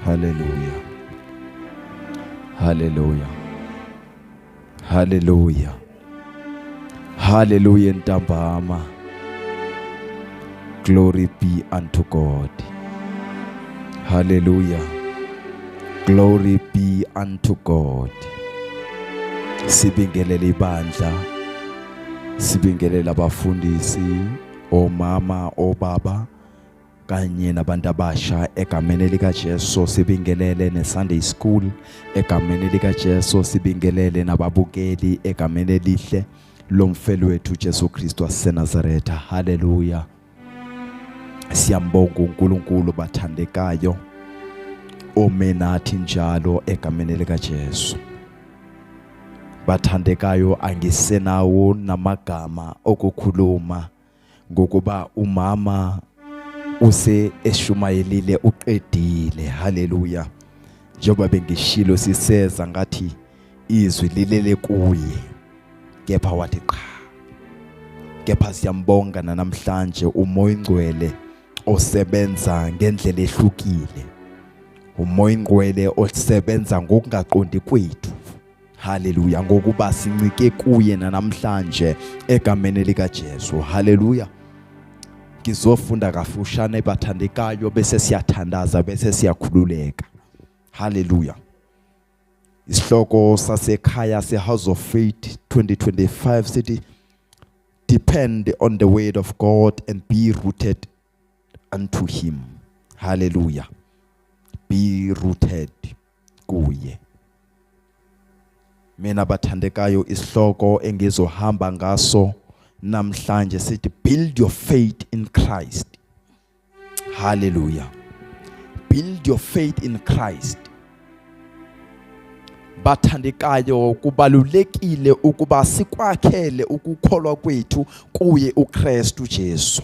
Haleluya. Haleluya. Haleluya. Hallelujah ntambama. Glory be unto God. Hallelujah. Glory be unto God. Sibingelele ibandla. Sibingelele abafundisi, omama, obaba kanye nabantu abasha egameni likaJesu sibingelele neSunday School egameni likaJesu sibingelele nababukeli egameni elihle lomfelo wethu Jesu Kristu waseNazaretha haleluya siyambonga uNkulunkulu bathandekayo ome nathi njalo egameni likaJesu bathandekayo angisenawo namagama okukhuluma ngokuba umama use eshumayelile uqedile haleluya njengoba bengishilo siseza ngathi izwi lilele kuye kepha wathi qha kepha siyambonga namhlanje umoya ingcwele osebenza ngendlela ehlukile umoya ingcwele osebenza ngokungaqondi kwethu Haleluya ngokuba sincike kuye nanamhlanje egameni lika Jesu. Haleluya. Ngizofunda kafushane bathandekayo bese siyathandaza bese siyakhululeka. Haleluya. Isihloko sasekhaya se House of Faith 2025 sithi depend on the word of God and be rooted unto him. Hallelujah. Be rooted kuye mina bathandekayo isihloko engizohamba ngaso namhlanje sithi build your faith in Christ hallelujah build your faith in Christ bathandekayo kubalulekile ukuba sikwakhele ukukholwa kwethu kuye uKristu Jesu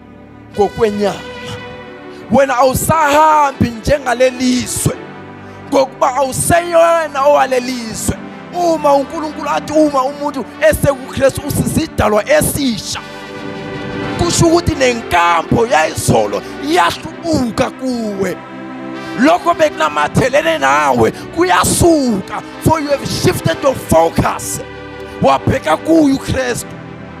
ngokwenyama wena awusahambi njengalelizwe ngokuba awuseyona owalelizwe uma uNkulunkulu athi uma umuntu esekuKristu usisidalwa esisha kusho ukuthi nenkambo yayizolo iyahlubuka kuwe lokho bekunamathelene nawe kuyasuka for you have shifted your focus wabheka kuye uKristu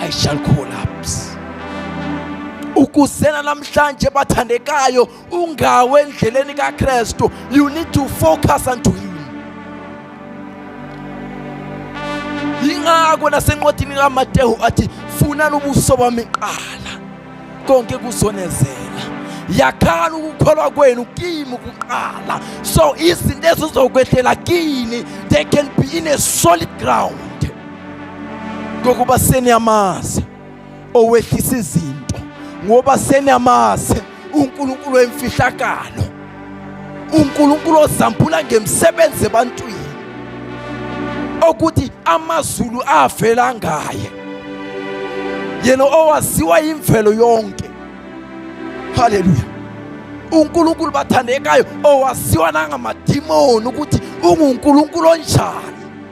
I shall collapse. Ukuzela namhlanje bathandekayo ungawe endleleni kaKristu. You need to focus unto him. Ingakho nasencwadini kaMateyu athi funani ubuso bami kuqala konke kuzonezela. yakhani ukukholwa kwenu kimi kuqala so izinto ezizokwehlela kini they can be in a solid ground ngokuba seniyamazi owehlisa izinto ngoba seniyamazi uNkulunkulu wemfihlakalo uNkulunkulu ozambula ngemisebenzi ebantwini okuthi amazulu avela ngaye yena owaziwa imvelo yonke haleluya uNkulunkulu bathandekayo owaziwa nangamadimoni ukuthi unguNkulunkulu onjani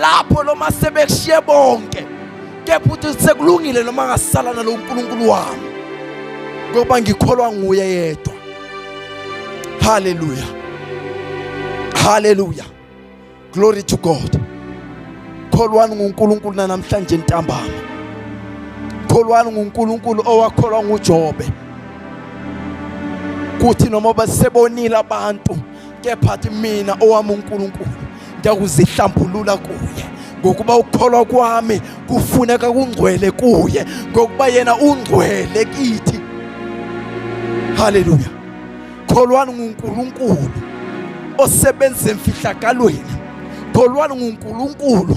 lapho noma sebekushiye bonke kepha uthi sekulungile noma ngasala nalo uNkulunkulu wami ngoba ngikholwa nguye yedwa haleluya haleluya glory to god kholwani nguNkulunkulu namhlanje ntambama kholwani nguNkulunkulu owakholwa nguJobe kuthi noma basebonile abantu kepha athi mina owami uNkulunkulu ndiyawuzihlambulula kuye ngokuba ukukholwa kwami kufuneka kungcwele kuye ngokuba yena ungcwele kithi haleluya kholwani ngunkulunkulu osebenza emfihlakalweni kholwani ngunkulunkulu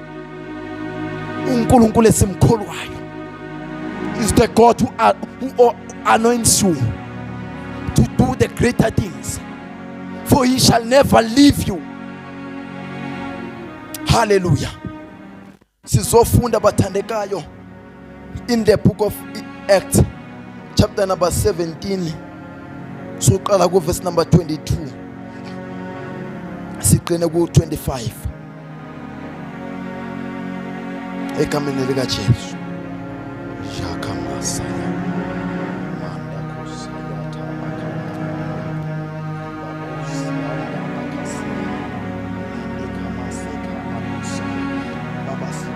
uNkulunkulu esimkholwayo is the God who, uh, who uh, anoints you to do the greater things for he shall never leave you haleluya sizofunda bathandekayo in the book of Acts chapter number 17 soqala ku verse number 22 siqine ku 25 egameni lika Jesu shakamasa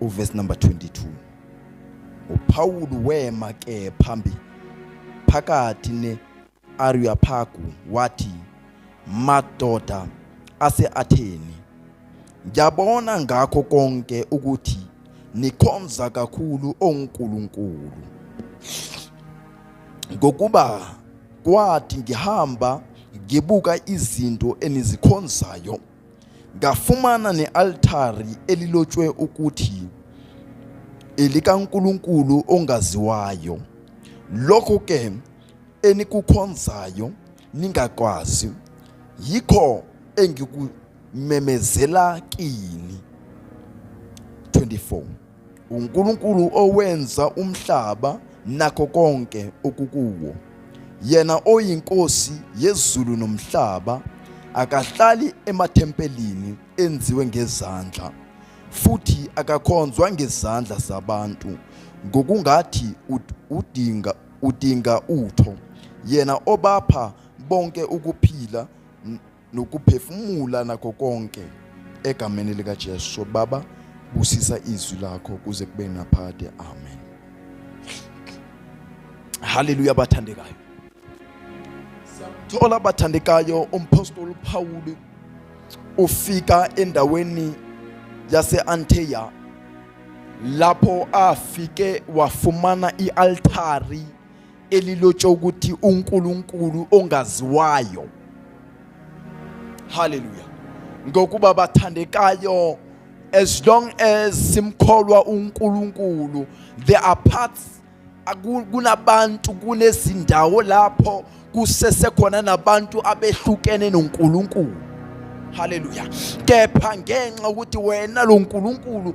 uverse number 22 uPawulu wema ke phambi phakathi ne Areopagu wathi madoda aseAtheni ngiyabona ngakho konke ukuthi nikhonza kakhulu oNkulunkulu ngokuba kwathi ngihamba ngibuka izinto enizikhonzayo ngafumana ne-altari elilotshwe ukuthi elikaNkulunkulu ongaziwayo lokho ke enikukhonzayo ningakwazi yikho engikumemezela kini 24 uNkulunkulu owenza umhlaba nakho konke okukuwo yena oyinkosi yezulu nomhlaba akahlali emathempelini enziwe ngezandla futhi akakhonzwa ngezandla zabantu ngokungathi udinga udinga utho yena obapha bonke ukuphila nokuphefumula nakho konke egameni likaJesu baba busisa izwi lakho kuze kube naphakade amen haleluya bathandekayo siyamthola bathandekayo umpostoli Pawulu ufika endaweni yaseAnteya lapho afike wafumana ialtari elilotsha ukuthi uNkulunkulu ongaziwayo haleluya ngokuba bathandekayo as long as simkholwa uNkulunkulu there are parts kunabantu kunezindawo lapho kusesekhona nabantu abehlukene noNkulunkulu haleluya kepha ngenxa ukuthi wena lo Nkulunkulu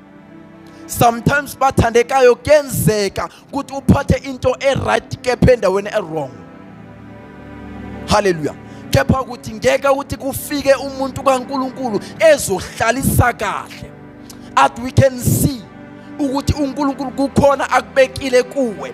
sometimes bathandekayo kuyenzeka ukuthi uphathe into e-right kepha endaweni e-wrong haleluya kepha ukuthi ngeke ukuthi kufike umuntu kaNkuluNkulu ezohlalisa kahle at we can see ukuthi uNkulunkulu kukhona akubekile kuwe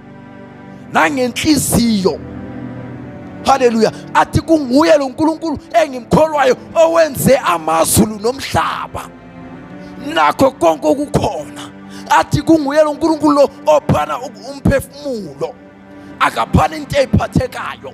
nangenhliziyo haleluya athi kunguye lo nkulunkulu engimkholwayo owenze amazulu nomhlaba nakho konke okukhona athi kunguye lo nkulunkulu lo ophana umphefumulo akaphani into eyiphathekayo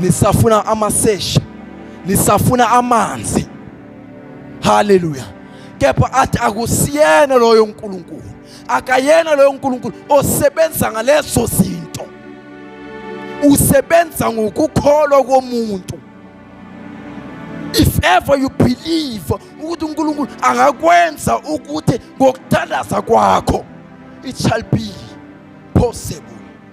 nisafuna amasesha nisafuna amanzi haleluya kepha athi akusiyena loyo nkulunkulu akayena loyo nkulunkulu osebenza ngalezo zinto usebenza ngokukholwa komuntu if ever you believe ukuthi uNkulunkulu angakwenza ukuthi ngokuthandaza kwakho it shall be possible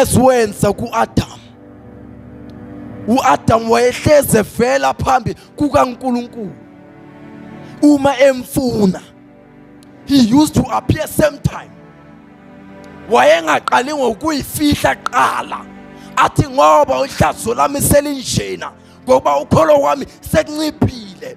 esiwenza kuAdam uAdam wayehleze vela phambi kukaNkulunkulu uma emfuna he used to appear same time wayengaqali ngokuyifihla qala athi ngoba uhlazo lami selinjena ngoba ukholo wami sekunciphile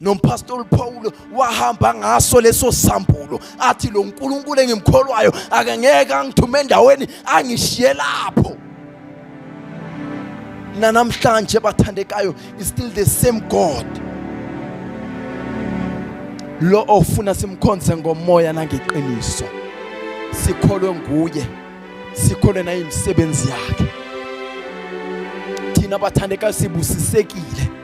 nompastor Paulo wahamba ngaso leso sambulo athi lo nkulunkulu engimkholwayo akangeke angithume endaweni angishiye lapho nanamhlanje bathandekayo is still the same god lo ofuna simkhonze ngomoya nangeqiniso sikholwe nguye sikholwe nayimisebenzi yakhe thina bathandekayo sibusisekile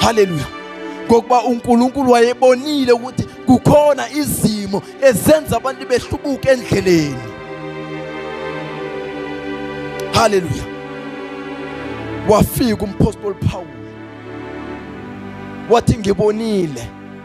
haleluya ngokuba unkulunkulu wayebonile ukuthi kukhona izimo ezenza abantu behlubuke endleleni haleluya wafika umpostoli Paul wathi ngibonile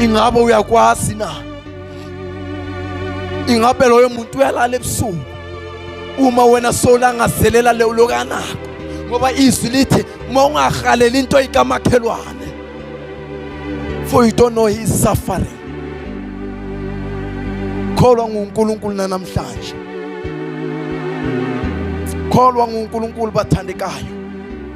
ingabe uyakwazi na ingabe loyo muntu uyalala ebusuku uma wena solangazelela leyo lokanako ngoba izwi lithi uma ungahaleli into ikamakhelwane for you don't know his suffering kholwa nguNkulunkulu nanamhlanje kholwa nguNkulunkulu bathandekayo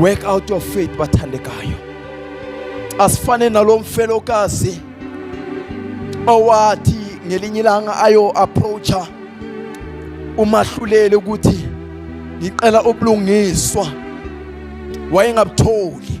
work out your faith bathandekayo asifane nalomfelokazi owathi ngelinye ilanga ayo approacha umahluleli ukuthi ngicela ubulungiswa wayengabutholi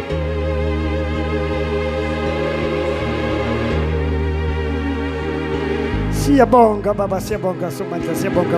Siyabonga baba, siyabonga Somandla, siyabonga.